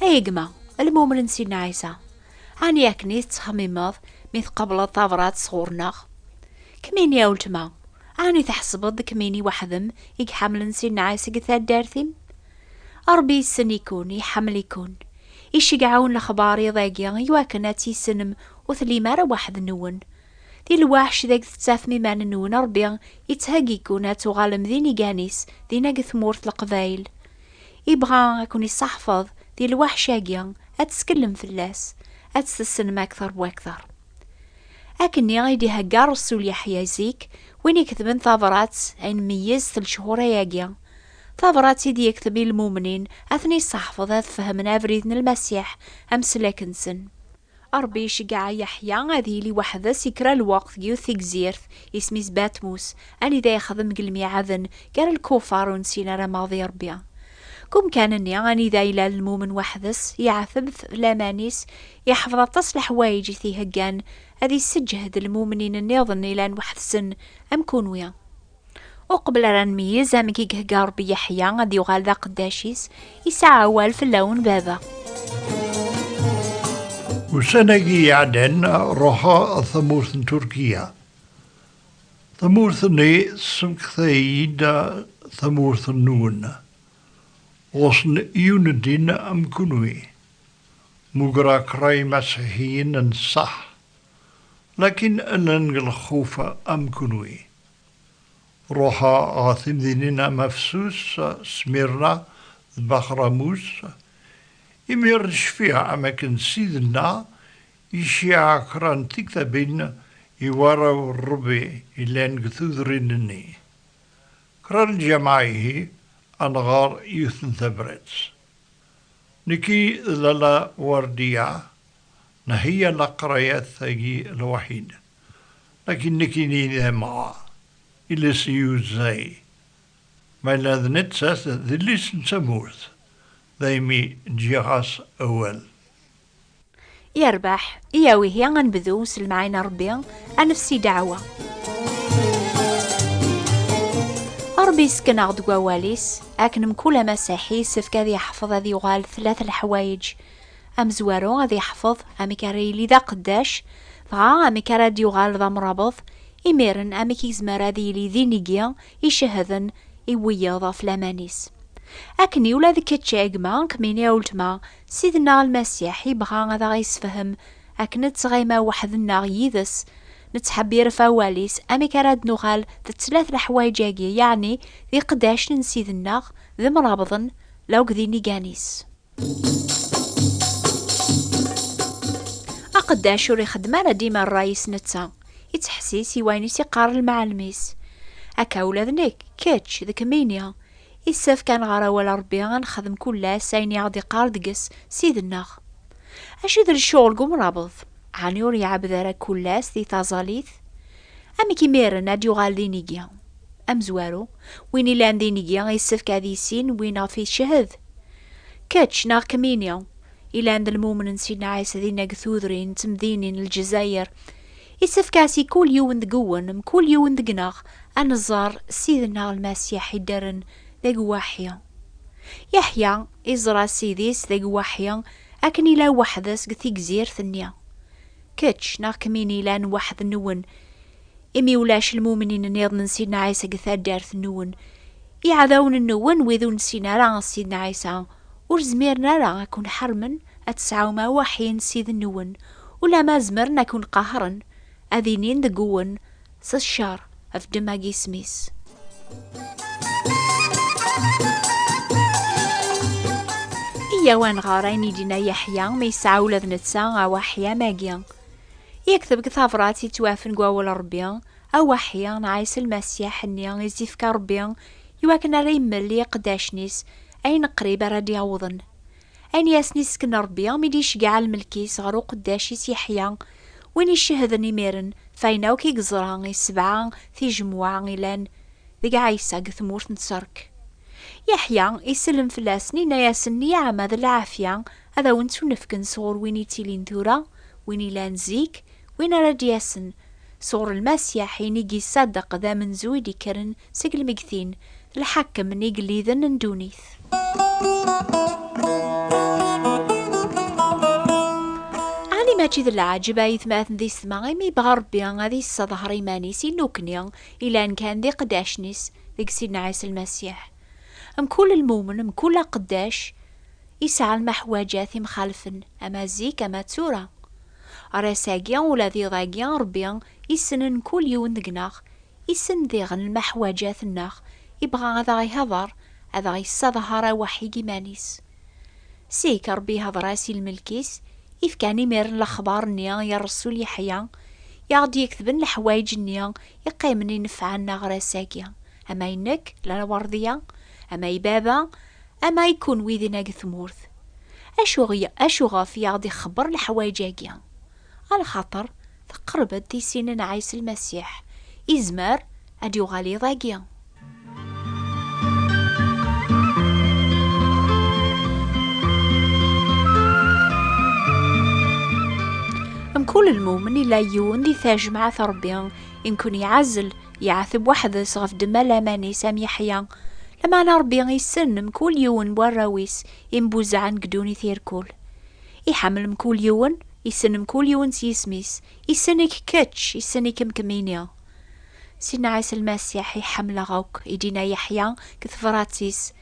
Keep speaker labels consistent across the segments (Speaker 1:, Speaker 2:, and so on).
Speaker 1: Ay gma, lmumen n Sidna Ɛisa, ɛni akken i tettxemmimeḍ mi tqableḍ tabrat sɣur-neɣ? Kemmini a weltma, ɛni tḥesbeḍ d kemmini weḥdem i iḥemmlen Sidna Ɛisa deg taddart-im? Ṛebbi yessen-ikun, iḥemmel-ikun. Iceggeɛ-wen lexbar iḍ-agi i wakken ad tt-issenem ur tellim ara weḥd-nwen. Di lweḥc deg tettafem iman-nwen Ṛebbi yettheggi-ken ad tuɣalem d inigan-is dinna deg tmurt n Leqbayel. Ibɣa a ken-isseḥfeḍ di lweḥc-agi, ad teskellem fell-as, ad tt-tessnem akteṛ bu akteṛ. Akkenni i d-ihegga Rressul Yeḥya zik, win iketben tabṛat ay nmeyyez s lechur-ayagi, tabṛat i d-yekteb i lmumnin, ad ten-isseḥfeḍ ad fehmen abrid n Lmasiḥ, ameslak-nsen. Ṛebbi iceggeɛ Yeḥya ad yili weḥd-s i kra n lweqt deg yiwet tegzirt, isem-is Batmus, anida yexdem deg lmiɛaden gar lkufar ur nessin ara maɣ d Ṛebbi. Deg umkan-nni anida yella lmumen weḥd-s, yeɛteb ɣef laman-is, iḥfeḍ aṭas n leḥwayeǧ i t-iheggan ad isseǧhed lmumnin nniḍen yellan weḥd-sen am kunwi. Uqbel ara nmeyyez amek i ihegga Ṛebbi Yeḥya ad yuɣal d aqeddac-is, yesɛa awal fell-awen Baba. Ussan-agi iɛeddan ruḥeɣ ɣer tamurt n Turkiya. Tamurt-nni tessemekta-iyi-d tamurt-nwen. Ɣuṣṣen iyunedin am kunwi. Mmugreɣ kra imasiḥiyen n ṣṣeḥ, lakin llan deg lxuf am kunwi. Ruḥeɣ ɣer temdinin am Afsus, Smirna d Baxramus. Imir cfiɣ am akken Sidna iciɛa kra n tiktabin i warraw n Rebbi yellan deg tudrin-nni. Kra n lǧameɛ ihi ad nɣer yiwet n tabrat. Nekki d Lalla Werdiya nheyya leqrayat-agi lwaḥid. Akken nekkini d amɣa, iles yuzzay, mala d nettat d yelli-s n tamurt, daymi ǧǧiɣ-as awal. Yerbeḥ, iyaw ihi ad nebdu s lemɛayna n Rebbi, ad nefsi ddeɛwa. Rebbi yessken-aɣ-d deg wawal-is, akken mkul amasiḥi yessefk ad yeḥfeḍ ad yuɣal tlat leḥwayeǧ, amezwaru ad yeḥfeḍ amek ara yili d aqeddac, dɣa amek ara d-yuɣal d amrabeḍ, imiren amek i yezmer ad yili d inigi icehden i wiyeḍ ɣef laman-is. Akken i ula d kečč a gma, kemmini a uletma, Ssid-nneɣ Lmasiḥ yebɣa ad aɣ-yessefhem akken nettɣima weḥd-nneɣ yid-s, nettḥebbir ɣef awal-is, amek ara d-nuɣal d tlata leḥwayeǧ-agi, yeɛni d iqeddacen n Ssid-nneɣ, d imrabeḍen, la akked inigan-is. Aqeddac ur ixeddem ara dima rray-is netta, ittḥessis i wayen i s-iqqar lmeɛlem-is. Akka ula d nekk, kečč, d kemmini, issefk ad nɣer awal Rebbi, ad nexdem kull ass ayen i aɣ-d-iqqar deg-s Ssid-nneɣ. Acu d lecɣel deg umrabeḍ? Ɛni ur iɛebbed ara kull ass di taẓalit? Amek imiren ad d-yuɣal d inigi? Amezwaru, win yellan d inigi yessefk ad yissin win ɣef yeched. Kečč neɣ kemmini yellan d lmumen n Sidna Ɛisa dinna deg tudrin d temdinin n Lezzayer, yessefk-as i kul yiwen deg-wen, mkul yiwen deg-neɣ, ad neẓẓer Ssid-nneɣ Lmasiḥ iddren d agwaḥi. Yeḥya iẓra Ssid-is d agwaḥi akken yella weḥd-s deg tigzirt-nni. Kečč neɣ kemmini yellan weḥd-nwen, imi ulac lmumnin nniḍen n Sidna Ɛisa deg taddart nwen. Iɛdawen nwen wid ur nessin ara Sidna Ɛisa, ur zmiren ara ad ken-ḥermen ad tesɛum awaḥin s id nwen, ulamma zemren ad ken-qahren, ad inin deg-wen, S ccer, bdem ag isem-is. Iyyaw ad nɣer ayen i d-yenna Yeḥya, mi yesɛa ula d netta awaḥi am agi. Yekteb deg tabrat yettwafen deg wawal n Rebbi, A Waḥi n Ɛisa Lmasiḥ nni i s-d-ifka Rebbi i wakken ara immel i iqeddacen-is ayen qrib ara d-yawḍen. Ayen i asen-isken Rebbi mi d-iceggeɛ lmelk-is ɣer uqeddac-is Yeḥya, win icehden imiren ɣef ayen akk i yeẓra i sebɛa tijemwa ilan deg Ɛisa deg tmurt n Ṣṣerk. Yeḥya isellem fell-asen, yenna-yasen, Nniɛama d lɛafya Ad awen-ttunefken sɣur win ittilin tura, win ilan zik, win ara d-yasen, sɣur Lmasiḥ, in i gisaddeq d amenzu i d-ikkren seg lmegtin, d lḥakem n igelliden n ddunit. Ɛni mačči d leɛǧeb a yetmaten d isetma imi yebɣa Rebbi ad yesseḍher iman-is i nukni ilan kan d iqeddacen-is deg Sidna Ɛisa Lmasiḥ? Mkul lmumen, mkul aqeddac, Yesɛa lmeḥwaǧat imxalfen ama zik ama d tura. Ɣer ass-agi ula d iḍ-agi Rebbi issnen mkul yiwen deg-neɣ, issen diɣen lmeḥwaǧat-nneɣ, ibɣa ad aɣ-ihḍer, ad aɣ-yessadhar aweḥḥi deg iman-is. Zik Rebbi ihḍer-as i lmelk-is, ifkan imiren lexbar-nni i Rresul Yeḥya, i aɣ-d-yektben leḥwayeǧ-nni iqqimen inefɛen-aɣ ɣer ass-agi, ama i nekk, lɛewṛḍiya, ama i baba, Ama i kunwi dinna deg tmurt, acu, acuɣef i aɣ-d-ixebber leḥwayeǧ-agi? A lxaṭer teqreb-d tisin n Ɛisa Lmasiḥ, izmer ad d-yuɣal iḍ-agi. Mkul lmumen ila yiwen di tajemɛat Ṛebbi i nkun-iɛazzel, Yeɛteb weḥd-s ɣef ddemma n laman-is am Yeḥya. Lameɛna Ṛebbi issen mkul yiwen n warraw-is imbuzaɛen deg ddunit irkul. Iḥemmel mkul yiwen, issen mkul yiwen s yisem-is, issen-ik kečč, issen-ikem kemmini. Sidna Ɛisa Lmasiḥ i ḥemmleɣ akk, i d-inna Yeḥya deg tebṛat-is,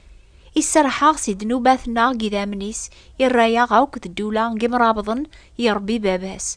Speaker 1: i serrḥeɣ si ddnubat-nneɣ deg idammen-is, irra-yaɣ akk d ddula n yimṛabḍen i iṛebbi baba-s,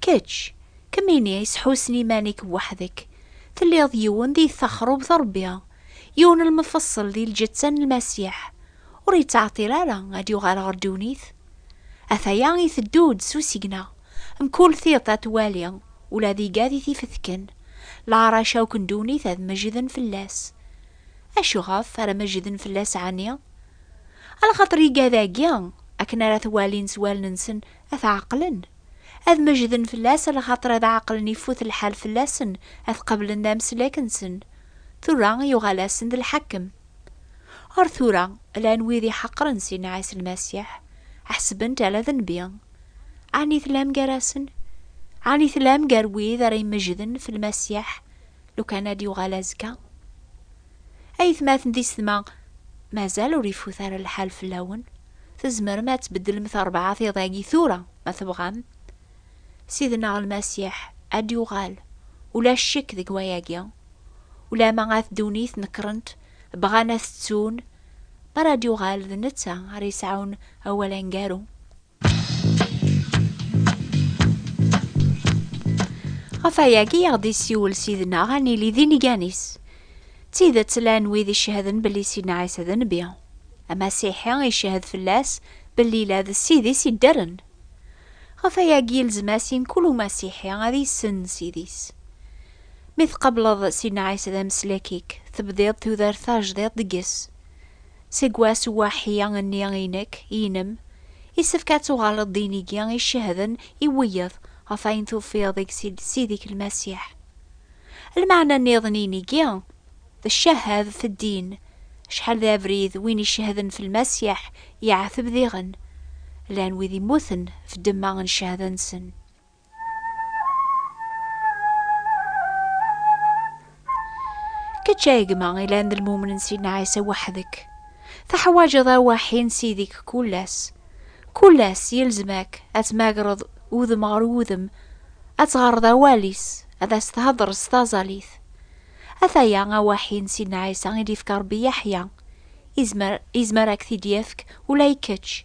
Speaker 1: Kečč, kemmini sḥusen iman-ik weḥd-k, telliḍ yiwen di texrubt n Rebbi, yiwen n lmefṣel di lǧetta n Lmasiḥ, ur yettɛeṭṭil ara ad d-yuɣal ɣer ddunit. Ataya iteddu-d s usigna, mkul tiṭ ad twali, ula d igad i t-ifetken, leɛrac akk n ddunit ad meǧǧden fell-as. Acuɣef ara meǧǧden fell-as ɛni? Ala xaṭer igad-agi akken ara t-walin s wallen-nsen ad t-ɛeqlen, ad mejden fell-as a lxaṭer ad ɛeqlen ifut lḥal fell-asen ad t-qablen d ameslek nsen, tura yuɣal-asen d lḥakem. Ar tura llan wid iḥeqren Sina Ɛisa Lmasiḥ, ḥesben-t ala d nnbi. Ɛni tellam gar-asen? Ɛni tellam gar wid ara imejden f Lmasiḥ lukan ad d-yuɣal azekka? Aytmaten d isetma, mazal ur ifut ara lḥal fell-awen, tzemrem ad tbeddlem terbɛa tiḍ-agi tura ma tebɣam. Sidneɣ Lmasiḥ ad d-yuɣal, ulac ccek deg wayagi. Ulamma at ddunit nekrent, bɣan ad t-ttun, mi ara d-yuɣal d netta ara yesɛun awal aneggaru. Ɣef ayagi i aɣ-d-isiwel sidna ad nili d inigan-is. D tidet llan wid icehden belli sidna Ɛisa d nnbi. Amasiḥi icehhed fell-as belli la d ssid-is iddren. Ɣef ayagi ilzem-as i mkul umasiḥi ad yessen ssid-is. Mi tqableḍ sidna Ɛisa d ameslek-ik, tebdiḍ tudert tajdiṭ deg-s. Seg wass uwaḥi nni i nekk, inem, isefk ad tuɣaleḍ d inigi icehden i wiyeḍ ɣef ayen tufiḍ deg Sidi-k Lmasiḥ. Lmeɛna nniḍen n inigi, d ccahadet n ddin, acḥal d abrid win icehden f Lmasiḥ yeɛteb diɣen, llan wid immuten f ddemma n cehda-nsen. Kečč ay gma ilan d lmumen n Sidna Ɛisa weḥd-k. Teḥwaǧeḍ awaḥi n Sidi-k kul ass. Kul ass yelzem-ak ad tmagreḍ udem ɣer wudem, ad teɣreḍ awal-is, ad as-thedreḍ s taẓalit. Ataya awaḥi n Sidna Ɛisa i d-yefka Rebbi Yeḥya. Izmer, izmer ad k-t-id-yefk ula i kečč.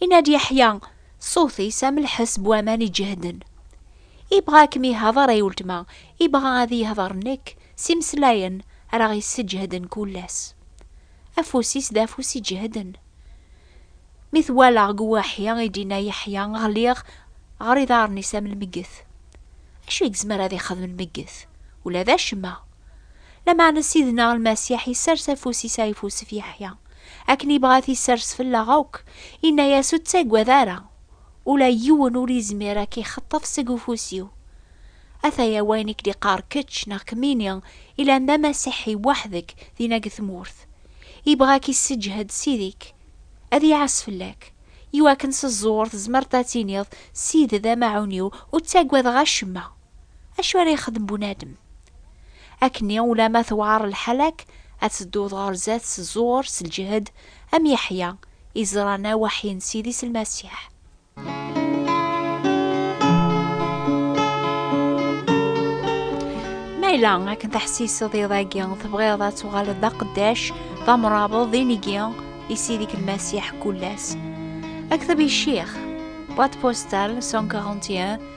Speaker 1: Yenna-d Yeḥya, ṣṣut-is am lḥes n waman iǧehden. Ibɣa ad kem-yehḍeṛ ay weltma, ibɣa ad iyi-hḍeṛ nekk, s imeslayen ara ɣ-yesseǧehden kul ass. Afus-is d afus iǧehden. Mi t-walaɣ g uwaḥi, i d-yenna Yeḥya, ɣliɣ ɣer iḍaṛṛen-is am lmegget. Acu i gezmer ad ixdem lmegget? Ula d acemma! Lameɛna Sidna Lmasiḥ yessers afus-is ayeffus f Yeḥya, Akken ibɣa ad isers fell-aɣ akk, inna-yas ur ttagad ara, ula yiwen ur izmir a k-ixeṭṭef seg ufus-iw. Ataya wayen i k-d-iqqar kečč neɣ kemmini ilan d amasiḥi weḥd-k dinna deg tmurt. Ibɣa a k-isseǧhed Sidi-k, ad iɛas fell-ak, i wakken s ẓẓur tzemreḍ ad tiniḍ, Sidi d amaɛun-iw, ur ttagadeɣ acemma. Acu ara yexdem bunadem? Akkenni ulamma tewɛer lḥala-k, ad tedduḍ ɣer zdat s ẓẓur, s lǧehd, am Yeḥya, i ẓran awaḥi n Sidi s Lmasiḥ. Ma yella akken teḥsiseḍ iḍ-agi, tebɣiḍ ad tuɣaleḍ d aqeddac, d amrabeḍ, d inigi i Sidi-k Lmasiḥ kul ass. Akteb i Ccix, boîte postale 141,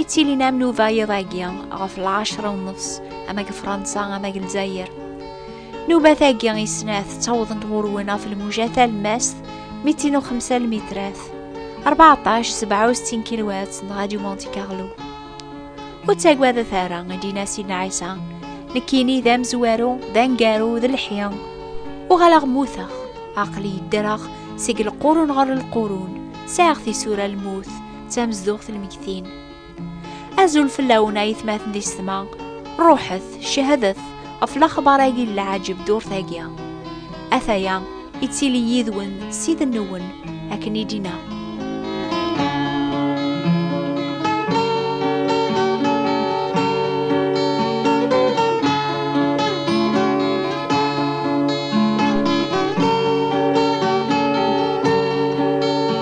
Speaker 1: I d-tilin am nuva yiḍ-agi ɣef lɛecra u nefs ama deg Fransa ama deg Lezzayer. Nubat-agi i snat ttawḍent ɣur-wen ɣef lmuja talemmast mitin u xemsa lmitrat, 14 67 kilwat n Radio Monte Carlo. Ur ttagadet ara, i d-yenna Sidna Ɛisa, nekkini d amezwaru, d angaru, d lḥi, uɣaleɣ mmuteɣ, aql-i ddreɣ seg lqurun ɣer lqurun, sɛiɣ tisura lmut, d tamezduɣt n lmegtin. Azul fell-awen ay tmaten di setma, ruḥet, cehdet ɣef laxbar-agi n lɛajeb durt-agi. Ataya, ittili yid-wen ssid-nwen, akken i d-inna.